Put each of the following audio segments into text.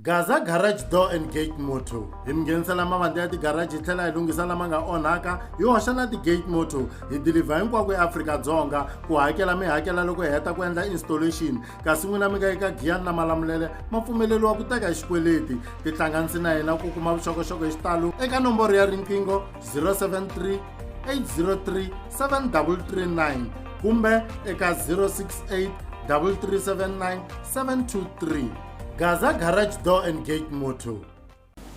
Gaza Garage Door and Gate Motto hi mi nghenisela mavandla ya tigaraji hi tlhela hi lunghisa lama nga onhaka hi hoxa na ti-gate motto hi dilivha hinkwako eAfrika-Dzonga ku hakela mi hakela loko hi heta ku endla installation kasi n'wina mi nga eka giyani na malamulele ma pfumeleriwa ku teka hi xikweleti tihlanganisi na hina ku kuma vuxokoxoko hi xitalo eka nomboro ya riqingho 073 803 7339 kumbe eka 068 3379 723 gaza garage door and gate motho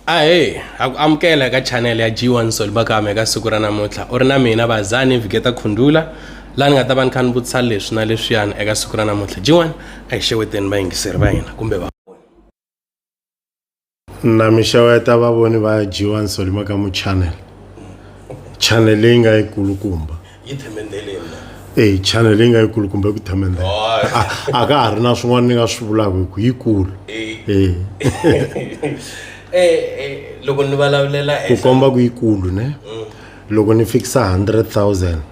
ahe ha ku amukela eka chanele ya g1 sol bakame eka siku ra namuntlha u ri na mina vazani viketa khundula laha ni nga ta va ni kha ni vutisa leswi na leswiyani eka siku ra namuntlha g1 a hi xeweteni vayingiseri va hina kumbe va na mi xeweta vavoni va g1 sol makamu channel channel leyi nga yi kulukumba yi themendeleni na eyi chana leyi nga yikulu kumbe ku themendeleni a ka ha ri na swin'wana ni nga swi vulaka hi ku yikulu loko ni vulavulela ku komba ku yikulu ne mm. loko ni fikisa hundred thousand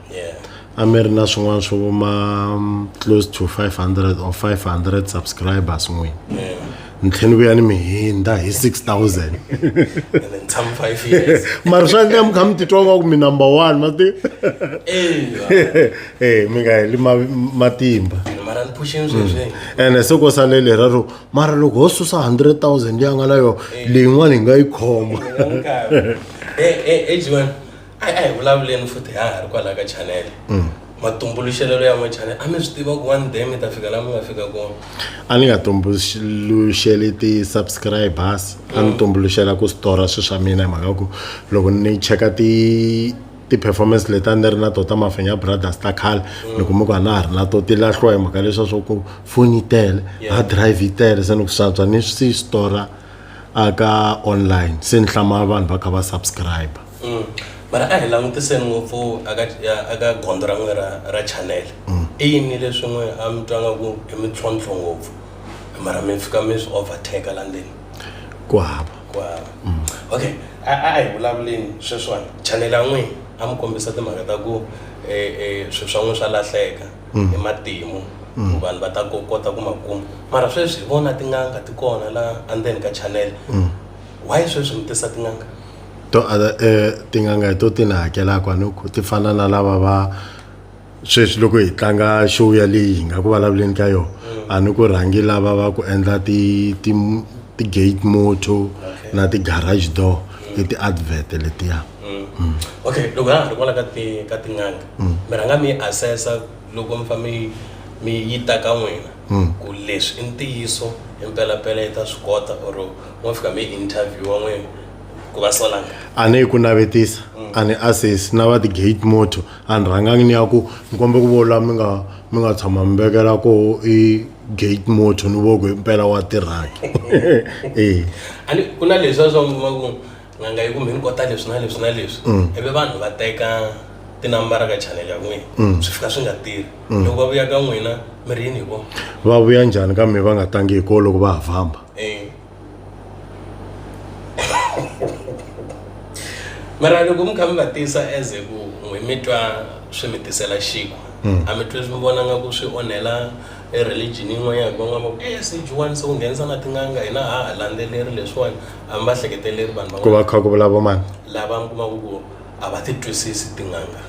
a mi ri na swin'wana swo vuma mm, close to five hundred or five hundred subscribers n'wini ntlheni vuya ni mi hindza hi 6000 mara swa endla mi kha mi titwa nga ku mi number one ma ti e mi nga heli matimba ene mm. se ko sale lera ro mara loko ho susa 100 000 leyi a nga na yona leyin'wana hi nga yi khoma a hi a hi vulavuleni futhi ha ha ri kwalaha ka chanele mm. matumbuluxelelo ya n'wechane a mi swi tiva ku one day mi ta fika laha mi nga fika kona a ni nga tumbuluxeli ti-subscribers a ni mm. tumbuluxela ku stora swilo swa mina hi mhaka ku loko ni cheka ti ti-performance leti a ni ri na to ta mafenya brothers ta khale mm. ni kuma ku a na ha ri na to ti lahliwa hi mhaka leswa swa ku foni yi tele hard drive yi tele se ni ku swantswa ni swi stora aka online se ni hlama vanhu va kha va subscriber mm. mara a hi langutiseni ngopfu aka gondzo ra n'we ra chanel mm. i yini leswi n'we a mi twa nga ku i mintlhontlho ngopfu mara mi fika mi swi overtake la ndzeni ku hava ku hava mm. okay a hi vulavuleni sweswiwani chanel a n'wini a mi kombisa timhaka ta ku e, e, swilo swa n'wina swa lahleka hi matimu Mm. vanhu va ta kota ku ma kuma mara sweswi hi vona tin'anga ti kona la andzeni ka channel mm. why sweswi mi tisa tin'anga to eh, tin'anga hi to ti ni hakelaka anoku ti fana na lava va sweswi loko hi tlanga show yaleyi hi nga ku vulavuleni ka yona mm. a ni ku rhangi lava va ku endla ti-gate moto na ti-garage door mm. i ti-advert letiya mm. okay loko ha ha ri kwala ka tin'anga mi rhanga mi assessa loko mi fa mi mi yi ta ka n'wina ku leswi i ntiyiso impelampela yi ta swi kota or wa fika mi interview wa n'wina ku va sola a ni yi ku navetisa mm. a ni assess na va ti-gate motor a ni rhangangi ni ya ku ni kombe ku vola mi nga mi nga tshama mi vekela ko i gate motor ni voko impela wa tirhaki e a ni ku na leswi a swa kuma ku n'anga yi kumbe ni kota leswi na leswi na leswi mm. ivi vanhu va teka tinambara ka chanel ya n'wina mm. swi fika swi nga tirhi loko va vuya ka n'wina mi ri yini hi vona va vuya njhani ka mi va nga tangi hi ko loko va ha famba Eh. mara loko mi kha mi va tisa as ku n'wi mi twa swi mi tisela xiku hmm. a mi twi mi vona nga ku swi onhela e religion yin'wanyana ku nga e eh, sejuwani se u nghenisa na tin'anga hina ha ha landzeleri leswiwani a mi va hleketeleri vanhu va ku va kha ku vulavumani lava mi kumaka ku a va ti twisisi tin'anga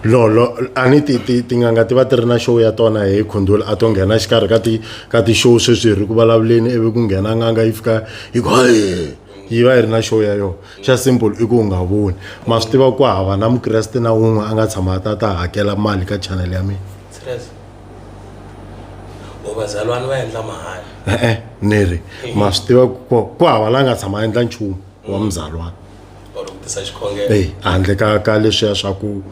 lolo a ni ti ti tin'anga ti va ti ri na show ya tona hi khundula a to nghena xikarhi ka ti ka ti-show sweswi hi ri ku vulavuleni ivi ku nghena n'anga yi fika yi ku yi va yi ri na show ya yona xa simple i ku u nga voni ma swi tiva ku hava na mukreste na wun'we a nga tshama a ta ta hakela mali ka channel ya mina vazalwana va endla mahala e-e ni ri ma swi tiva ku hava la nga tshama a endla nchumu wa muzalwana or ku tisa xikhongelo eyi handle ka ka leswiya swa ku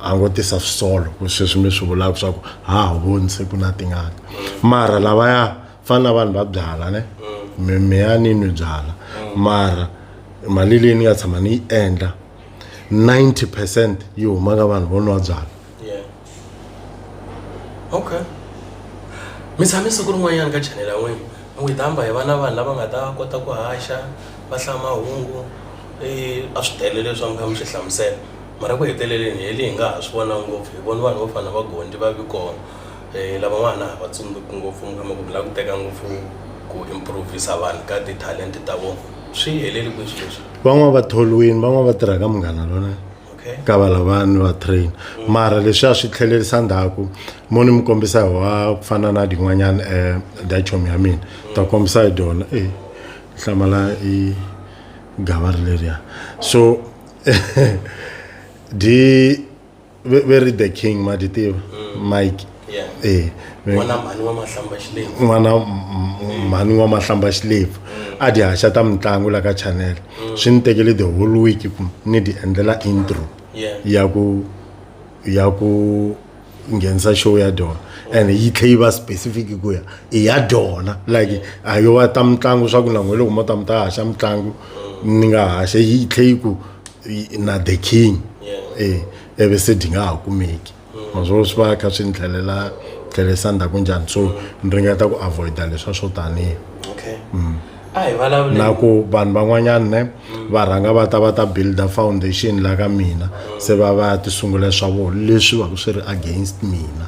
a ngo tisa swisolo ku sweswi mi swi vulaka swa ku ha ha voni se ku na tingana mara lavaya fana na vanhu va byala ne mi mi ya ni nwi byala mara mali leyi ni nga tshama ni yi endla 90 percent yi huma ka vanhu vo nwa byala yeah okay mi tshame siku rin'wanyana ka chanel ya n'wina mi n'wi hamba hi va na vanhu lava nga ta kota ku haxa va hlaya mahungu a swi tele leswi a mi kha mi swi hlamusela mara ku heteleleni hi le hi nga ha swi vona ngopfu hi vona vanhu vo fana na va Gondy va vi kona lavan'wana a hi va tsundzuki ngopfu mi kuma ku mi lava ku teka ngopfu ku improv-isa vanhu ka ti-talent-e ta vona swi heleli kwihi swilo leswi van'wani va tholiwini van'wani va tirha ka Munghana Lonene. ka va lavani va train mara leswi a swi tlhelerisa ndzhaku mo ni mi kombisa hi wa ku fana na din'wanyana um eh, dachom ya mina ta kombisa hi dyona e eh, hlamala i gava ri leriya so di ve ri the king ma di tiva mm. mike e n'wana mhani wa mahlamba xilefu n'wana mhani wa mahlamba xilefu a dyi haxa ta mitlangu la ka channel mm. swi ni tekele the whole week ku ni dyi endlela intro ya ku ya ku nghenisa show ya dyona and yi tlhe yi va specific ku ya i ya dyona like a yo va ta mitlangu swa ku na n'we loko mo ta mi ta haxa mitlangu mm. ni nga haxe yi tlhe yi ku na the king e ivi se dyi nga ha kumeki maswona swi va kha swi ni tlhelela tlhelisa ndzhaku njhani so ni ringeta ku avoida leswa swo tanihi okay mm. na ku vanhu van'wanyana ne mm. va rhanga va ta va ta builda foundation la ka mina mm. se va va ya ti sungula swa vona leswi va ku swi ri against mina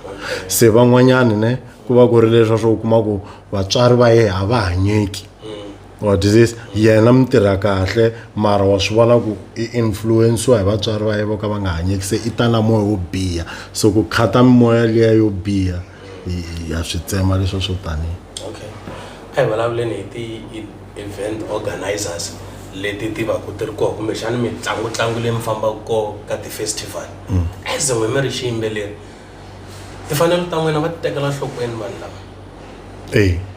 se van'wanyana ne ku va ku ri leswa swo u kuma ku vatswari va ye a va hanyeki Wa ti se yena mi tirha kahle mara wa swi vona ku i influence-iwa hi vatswari va ye vo ka va nga hanyeki se i ta na moya wo biha so ku khata mimoya liya yo biha hi ha swi tsema leswa swo taniya okay a hi vulavuleni hi ti-event organisers leti ti va ku ti ri kona kumbexana mitlangutlangu leyi mi fambaka kona ka ti-festival as n'wina mi ri xiyimbeleri timfanelo ta n'wina va ti tekela enhlokweni vanhu lava eya.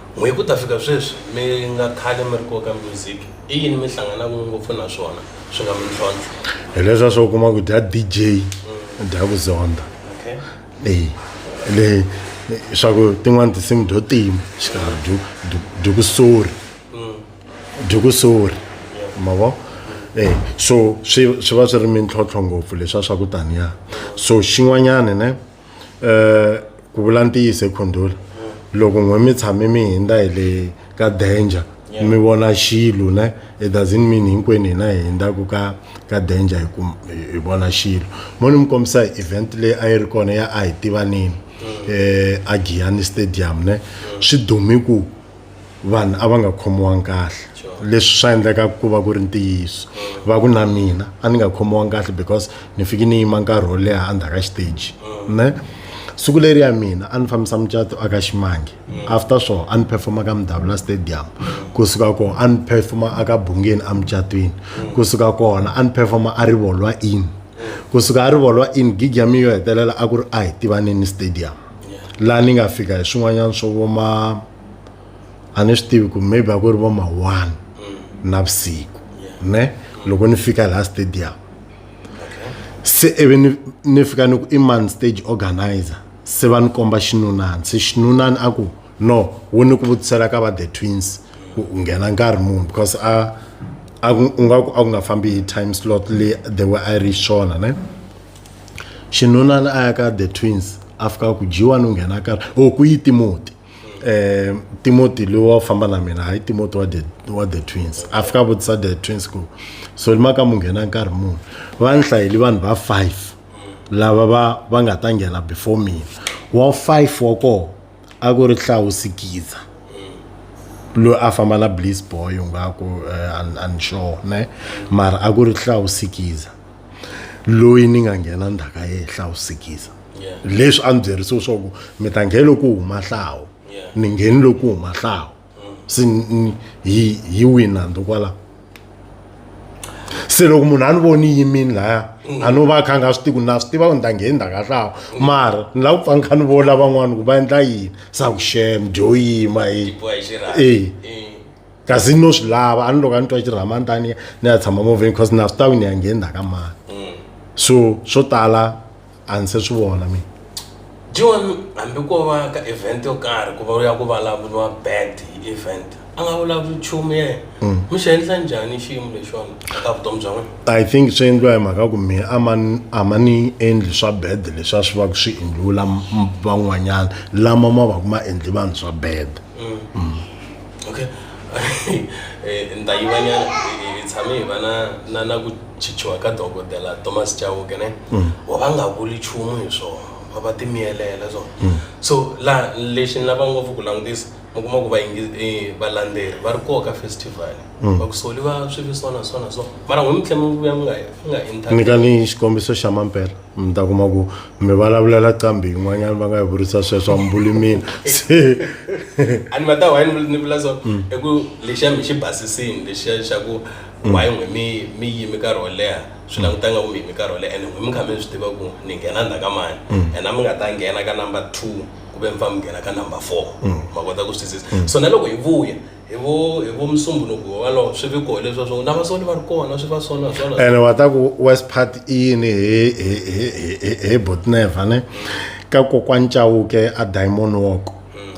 Hi ku ta fika sweswi mi nga khale mi ri kona ka music, i yini mi hlanganaka ngopfu na swona swi nga mintlhontlho? Hi leswiya swo u kuma ku dya DJ u dya ku zondha Okay. leyi le swa ku tin'wani tinsimu dyo tima xikarhi dyo dyo- dyo ku sori dyo ku sori ma vo Eh, so swi swi va swi ri mintlhontlho ngopfu leswiya swa ku taniya so xin'wanyani ne um ku vula ntiyiso ekhondula loko n'we mi tshame mi hindza hi le ka danger mi vona xilo ne it doesn't mean hinkwenu hina hi hindzaku ka ka danger hi ku hi vona xilo mo ni mi kombisa hi event leyi a yi ri kona ya a hi tivanini um a giyani stadium ne swi dume ku vanhu a va nga khomiwangi kahle leswi swa endleka ku va ku ri ntiyiso va ku na mina a ni nga khomiwangi kahle because ni fike ni yima nkarhi wo leha endzhaku ka xiteji ne siku leri ya mina a ni fambisa mucato aka ximange after swona a ni performa ka mudavula stadium kusuka kona a ni performa aka bungeni emucatweni kusuka kona a ni performa a rivolwa in kusuka a rivolwa in gig ya mina yo hetelela a ku ri a hi tivaneni stadium laha ni nga fika hi swin'wanyana swo voma a ni swi tivi ku maybe a ku ri voma one mm. navusiku ne loko ni fika laha stadium se ivi ni ni fika ni ku i man stage organizer se va ni komba xinunani se xinunani a ku no wu ni ku vutisela ka va the twins ku nghena nkarhi muni because a a ku nga ku a ku nga fambi hi time slot le the way i reach swona ne xinunani a ya ka the twins a fika ku dyiwa ni nghena karhi o oh, ku yi timoti eh Timothy lowa famba na mina hayi Timothy wa the wa the twins afika vutisa the twins ku so lima ka munghena nkarhi muni va ni hlayeli vanhu va five lava va va nga ta nghena before mina wa five wa kona a ku ri hlawusikiza loyi a famba na bliss boy ngaku eh, unsure ne mara a ku ri hlawusikiza loyi ni nga nghena ndhaka ya yehla u sikiza Yeah. leswi a ni byerisiwe swa ku mi ta ngheni loko u huma hlawu Yeah. ni ngheni loko u huma hlawu se ni- ni- hi hi wina ndo kwala se loko munhu a ni voni yimini laya a no va a kha a nga swi tivi ku na swi tiva ku ni ta ngheni ndhaka hlawu mara ni lava ku pfa ni kha ni vona van'wani ku va endla yini sa ku shem dyo yima hi Boy, xi rhandza. Eh. Eh. kasi ni no swi lava a ni loko a ni twa xirhama ni ta ni ni ya tshama movheni because na swi tavi ni ya nghenna ka mani mm. so swo tala a ni se swi vona mina john hambi ko va ka event yo karhi ku va u ya ku vulavuriwa bad hi event a nga vulavuri nchumu yena mm. mi xi endla njhani xiyimo lexiwani ka vutomi bya n'wina i think swi endliwa hi mhaka ku mina a ma a ma ni endli swa bad leswi a swi va ku swi endliwula van'wanyana lama ma va ku ma endli vanhu swa bad mm. Mm. okay eh, ndayivanyana hi tshame hi va na na na ku chichiwa ka dokodela thomas chauke ne mm. wa va nga vuli nchumu hi swona va va timiyelela swona mm. so la lexi ni lava ngopfu ku langutisa mi kuma ku eh, valandzeleri va ri koka festival mm. va ku soliwa swivi swona swona so mara n'wi mi tlhe mi vuya mi nga mi nga internyika ni xikombiso xa mampela mi ta kuma ku mi vulavulela qambi yin'wanyana va nga yi vurisa sweswo a mi vuli mina se a ni ma ta why ni vula so mm. i ku lexiya mi xi basisini lexiya xa ku mm. why n'we mi mi yimi nkarhi wo leha swi languta nga ku mi yimi nkarhi wo leha and n'we mi kha mi swi tiva ku ni nghena ndzha ka mani mm. and a mi nga ta nghena ka number two ku ve mi fa mi nghena ka number four ma kota ku swi twisisa so na loko hi vuya hi vo hi vo musumbunuku walowo swi vi koho leswa swo na vasoni va ri kona swi va sona swona ene wa ta ku west part i yini hi hi hi hi hi botneva ne ka kokwani chauke a diamond walk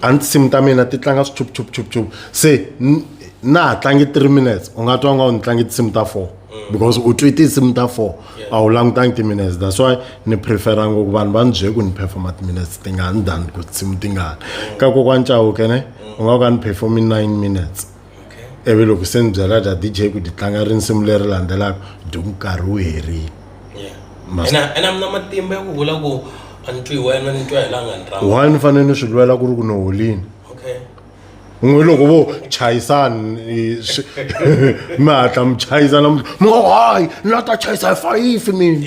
a ni tinsimu ta mina ti tlanga swi chup chup chup chup se n- na ha tlangi three minutes u nga twa nga u ni tlangi tinsimu ta four because u twi tinsimu ta four a wu langutangi timinutes that's why ni prefera ngoku vanhu va ni bye ku ni performa timinutes tingani than ku tinsimu tingani ka kokwani cawuke ne u nga ka ni performi nine minutes ivi loko se ni byela dya dj ku di tlanga rinsimu leri landzelaka dyi nkarhi wu herile why ni fanele ni swi lwela ku ri ku ni holini n'wi loko vo chayisani mi hatla mi chayisa namuntlha mi ngo hayi ni la ta chayisa hi fayifi mina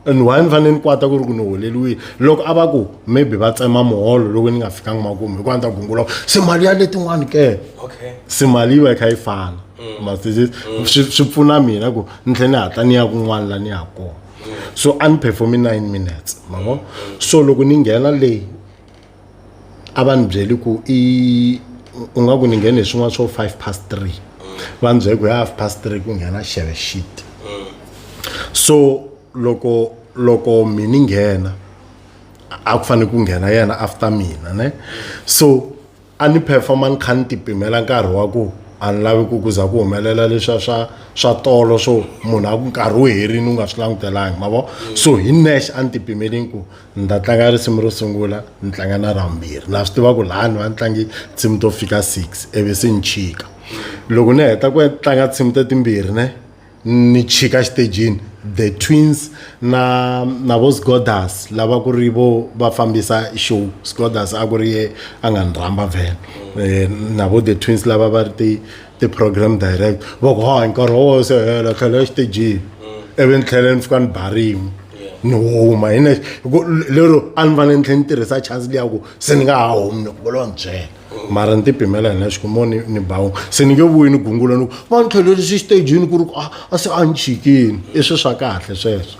and why ni fanele ni kwata ku ri ku ni holeliwile loko a va ku maybe va tsema muholo loko ni nga fikanga makumu hikuva ni ta gungula se mali ya letin'wani ke se mali yi va yi kha yi fana mm. masisi mm. swi pfuna mina ku ni tlhe ni hatla ni ya kun'wana la ni ya kona mm. so a ni performe nine minutes mavo so loko ni nghena leyi a va ni byeli ku i u nga ku ni nghene hi swin'wana swo five past three va ni byele ku ya half past three ku nghena xeve shit so loko loko mi ni nghena a ku fanele ku nghena yena after mina ne so a ni performa ni kha ni ti pimela nkarhi wa ku a ni lavi ku ku za ku humelela leswa swa swa tolo swo munhu a ku nkarhi wu herini u nga swi langutelangi ma vo so hi nexe a ni ti pimeleni ku ni ta tlanga risimu ro sungula ni tlanga na ra vumbirhi na swi tiva ku laha ni va ni tlangi nsimu to fika six ivi se ni chika loko ni heta ku tlanga nsimu ta timbirhi ne ni chika xitejini the twins na na vo sgodas lava ku ri vo va fambisa show sgodas a ku ri ye a nga ni rhamba vhele um na vo the twins lava va ri ti ti-program direct va ku ha nkarhi wo se hela tlhela exitejini mm. ivi ni tlhela ni fika ni ba rin'we ni huma hi nexe hiku lero a ni fanele ni tlhela ni tirhisa chance liya ku se ni nga ha humi ni ku volo ni byela mm. mara ni tipimela hi nexe kumo ni ni bawu se ni nge vuyi ni gungula ni ku va ni tlhelelisi xitejini ku ri ku ah, a se a ni chikini i swi swa kahle sweswo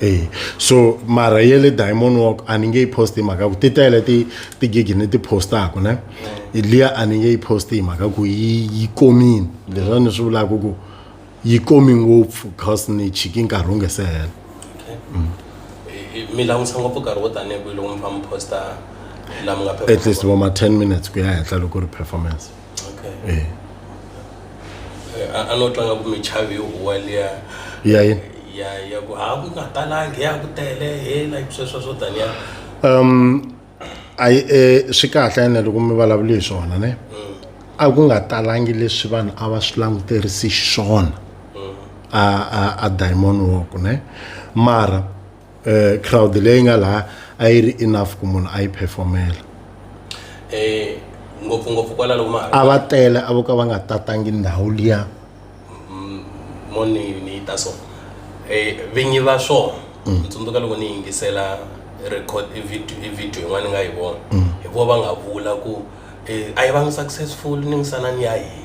e so mara ye le diamond walk a ni nge yi post hi mhaka ku ti tele ti tigigi ni ti postaku ne liya a ni nge yi post hi mhaka ku yi yi komini leswa ni swi vulaka ku yi komi ngopfu cause ni chiki nkarhi wu nge se hela mm. mi langutisa ngopfu nkarhi wo tanihi kwihi loko mi famba posta laha mi nga at least vo ma ten minutes ku ya henhla loko ri performance eh. eh, a no tlanga ku michavi yo huwa liya ya yini ya ya ku ha ku nga talangi ya ku tele he like sweswo swo taniya um ayi eh, swi kahle ene loko mi vulavule hi swona ne mm. a ku nga talangi leswi vanhu a va swi languterisi xiswona mm. a a a diamond walk ne mara eh, crowd leyi nga laha a yi ri enough ku munhu a yi performela eh ngopfungopfu kwala loko ma a va tele a vo ka va nga tatangi ndhawu liya mm, moni ni ta so eh vinyi va swona mm. tsundzuka loko ni yingisela record i video i video yin'wana nga yi vona mm. hi vo va nga vula ku eh, a yi va successful ni misana ni ya yini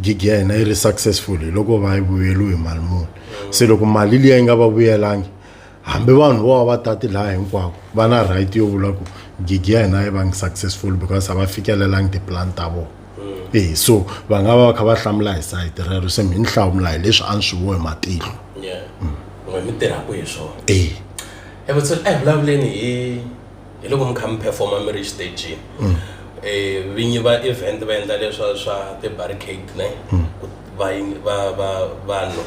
gig ya hina yi ri successful hi loko va yi vuyeriwe hi mali muni se loko mali liya yi nga va vuyelangi hambi vanhu vo va va tati laha hinkwako va na right yo vula ku gig ya hina yi vangi successful because a va fikelelangi tiplan ta vona mm. e so va nga va va kha va hlamula hi sayiti rero se mi ni hlamula hi leswi a ni swi vo hi matihlo mm. mi tirhaka hi swona e evutsolo a hi vulavuleni hi hi loko mi kha mi performa mi ri exitejini mm. eh, vinyi va event va endla leswa swa ti-barricade ne mm. vanhu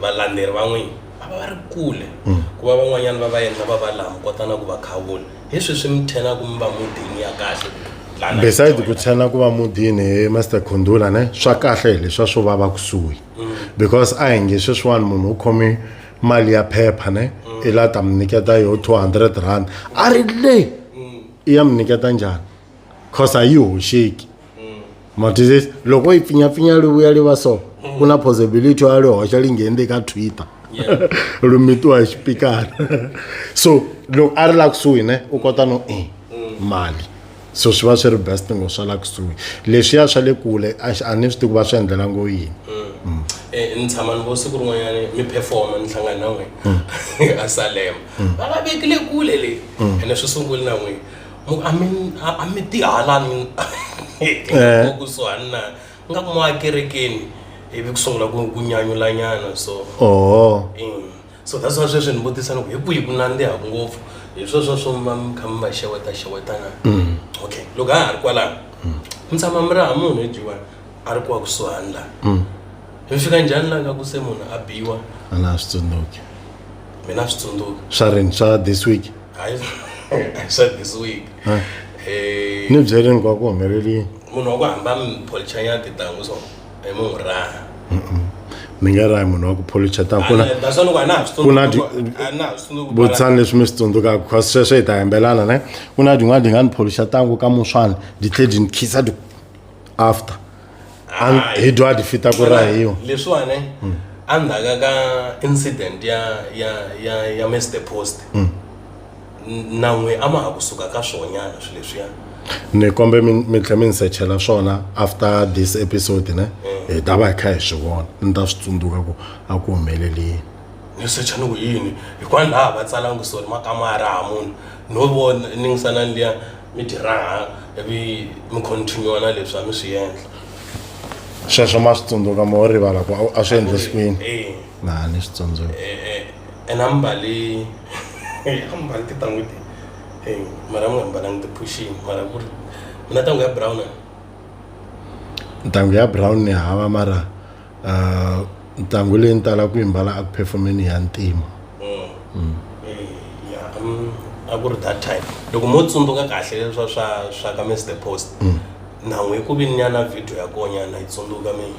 valanderi van'wini va va va ri kule mm. ku va van'wanyana va va endla va va laha mi kota na ku va khawula hi swi swi mi thenaka mi va mudini ya kahle beside ku tshena ku va mudini hi master khundula ne swa kahle hi leswa swo va va kusuhi because a hi nge sweswiwani munhu u khome mali ya phepha ne mm. i la ta mi nyiketa yo two hundred rand a ri le mm. i ya mi nyiketa njhani cause a yi hoxeki mm. matizisi loko yi pfinyapfinya li vuya li va so ku na possibility ya li hoxa li ngheni le ka twitter lu mitiwa hi xipikara so loko a ri la kusuhi ne u kota no i mali so swi va swi ri best ngo swa la kusuhi leswiya swa le kule a ni swi tivi ku va swi endlela ngo yini mm. Mm. Eh, ni tshama ni vo siku rin'wanyana mi performa ni hlangana na n'wina mm. a salema va va vekile kule leyi ene swi sunguli na n'wina a mi tihalani eh. kusuhani na nga ku mwakerekeni ivi ku sungula ku nyanyulanyana so oho so that's why sweswi ni vutisa ni ku hi kwihi ku nandzihaku ngopfu hi sweswo swo ma mi kha mi va xeweta xewetana Mm. okay loko a ha ri kwalaho mi tshama mi raha munhu hi dyiwani a ri kuwa kusuhani laha Mm. mi fika njhani laha nga ku se munhu a biwa a na swi tsundzuki mina a swi tsundzuka swa rini swa this week hayi swa this week Ah. Eh, ni byerini kwa ku humelelini munhu wa ku hamba mi polichanya tintangu so i mu n'wi raha ni nga rahi munhu wa ku policha ta ku na Ana- that's why loko a na ha swi ku na di- tsundzuki- a na ha swi tsundzuki ku bala- vutshani leswi mi swi tsundzukaka because sweswo hi ta yembelana ne ku na din'wana di nga ni policha tangu ka muswana di tlhe di ni khisa di after An- Hayi. hi dwa di fita ku rahiwa leswiwani endzhaku ka incident ya ya ya ya mr post nan'we a ma ha kusuka ka swonyana swilo leswiya ni kombe mi tlhe mi ni sechela swona after this episode ne hi ta va hi kha hi swi vona ni ta swi tsundzuka ku a ku humelelini ni secha ni ku yini hikwani laha va tsalangi sori makamara ha munhu no vona ningisanani liya mi tirhaha ivi mi continue na leswi a mi swi endla sweswo ma swi tsundzuka mo rivala ku a swi endlisikwini na ni swi tsundzuka eh, eh, and ambale ambale titangu ti eh, mara mi nga mbalangi ti-pushing mara ku ri mi na tangu ya brown a? ntangu ya brown ni hava mara uh, ntangu leyi ni tala ku yi mbala aku performeni ya ntima Mm. Eh, ya, mm, a ku ri that time loko mo tsundzuka kahle leswa swa swa ka mr post nhan'we ku vi ni nyana video ya konyana yi tsundzuka mina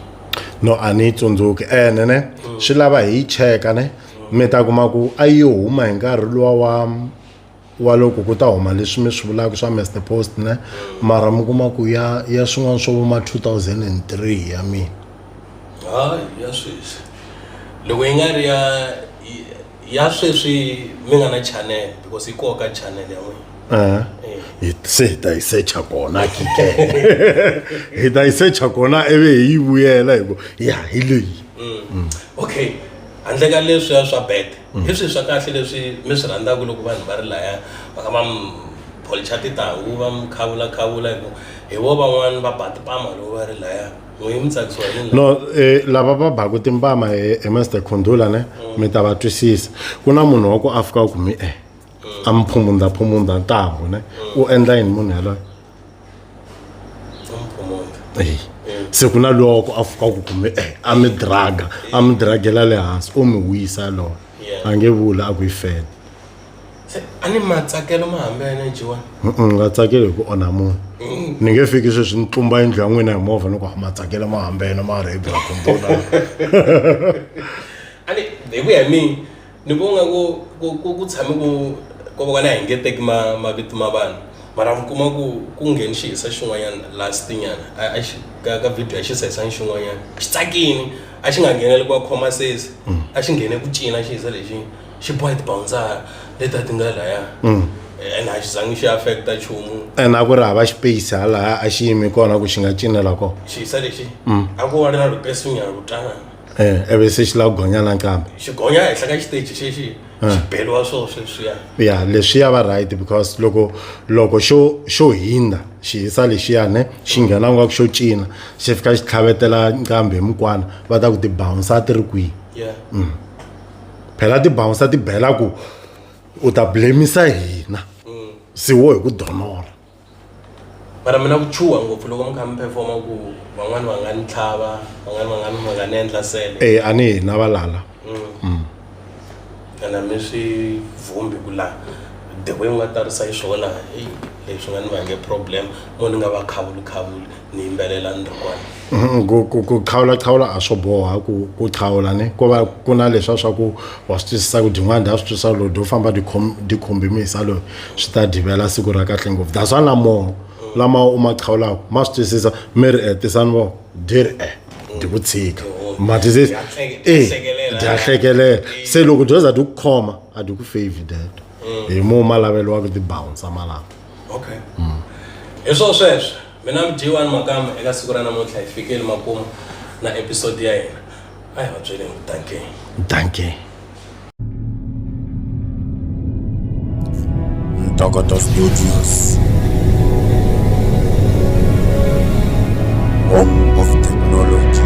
no a ni yi tsundzuki ene ne mm. swi lava hi yi cheka ne mm. mi ta kuma ku a yi huma hi nkarhi luwa wa wa loko ku ta huma leswi mi swi vulaka swa master post ne mara mi kuma ku ya ya swin'wana swo vuma 2003 ya mina hayi ya sweswi loko yi nga ri ya ya sweswi mi nga na channel because yi koka channel ya n'wina Eh. Eh. Hi- se hi ta yi secha kona kike hi ta yi secha kona ivi hi yi vuyela hi ku ya hi leyi okay handle ka leswiya swa bet hi swihi swa kahle leswi mi swi rhandzaka loko vanhu va ri laya va ka va mi policha titanghu va mi khavula khavula hi ku hi vo van'wani va ba tipama loko va ri laya no eh, lava va baku timpama hi eh, mr eh, khundula ne mm. mi ta va twisisa ku na munhu wa ku a fika ku mi e a mi phumunda phumunda ntambu ne mm. u endla yini munhu yaloyo se ku na loko a fika ku kume e a mi draga a mi dragela le hansi u mi wisa yaloyo a nge vula a ku yi fela se a ni matsakelo ma hambi ya nejiwa nga tsakeli hi ku onha munhu mm. ni nge fiki sweswi ni tlumba yindlu ya n'wina hi movha ni ku ah, matsakelo ma hambi yena ma rhebi ra kumbula ani hi ku ya mina ni ku nga ku ku tshame ku ko va na hi nge teki mavito ma vanhu mara mi kuma ku ku ngheni xi hisa xin'wanyana last nyana a xi ka ka video a xi sa hisanga xin'wanyana xi tsakini a xi nga ngheneli ku wa khoma sesi mm. a xi nghene ku cina xi hisa lexi xi boha tibawundzara leti a ti nga laya mm. and a xi zangi xi affecta nchumu and a ku ri hava space ha laha a xi yimi kona ku xi nga cinela kona xiyisa lexi mm. a ku wa ri na ripesinyana ro tana um eve se xi lava gonya na nkambe xi gonya henhla ka xiteji xexi eh. xi beliwa swo sweswiya ya leswiya va right because loko loko xo xo hindza xi hisa lexiyane xi nghena nga ku xo cina xi fika xi tlhavetela nkambe hi mukwana va ta ku tibounsa ti ri kwihi yeah. mm. phela ti bouncer ti bela ku u ta blamisa hina se wo hi ku donola mara mina ku chuha ngopfu loko mi kha mi performa ku van'wani va nga ni tlhava van'wani va nga ni va nga ni endla sele e a ni hina valala ene mi swi vhumbi ku la the way u nga tarisa yi swona eyi leswi nga ni vange problem mo ni nga va khavuli khavuli ni yimbelela ni ri kwala Mhm, ku ku ku qhawula qhawula a swo boha ku ku qhawula ni ko va ku na leswa swa ku wa swi twisisa ku dyin'wana dya swi twisisa loyi dyo famba dikhombi misa loyi swi ta divela siku ra kahle ngopfu that's why na moho lama u ma qhawulaka ma swi twisisa mi ri e tisani vo di ri e di ku tshika matisisi e dya hlekelela se loko dyo za di ku khoma a di ku favor deto mm. hi mo ma laveliwaka tibounce malapa okay mm. hi swo sweswo Mina Mjiwani Makamba eka siku ra namuntlha hi fikeli makumu na episode ya hina. A hi va byeleni ku danke. Danke. Ntokoto Studios. Home of technology.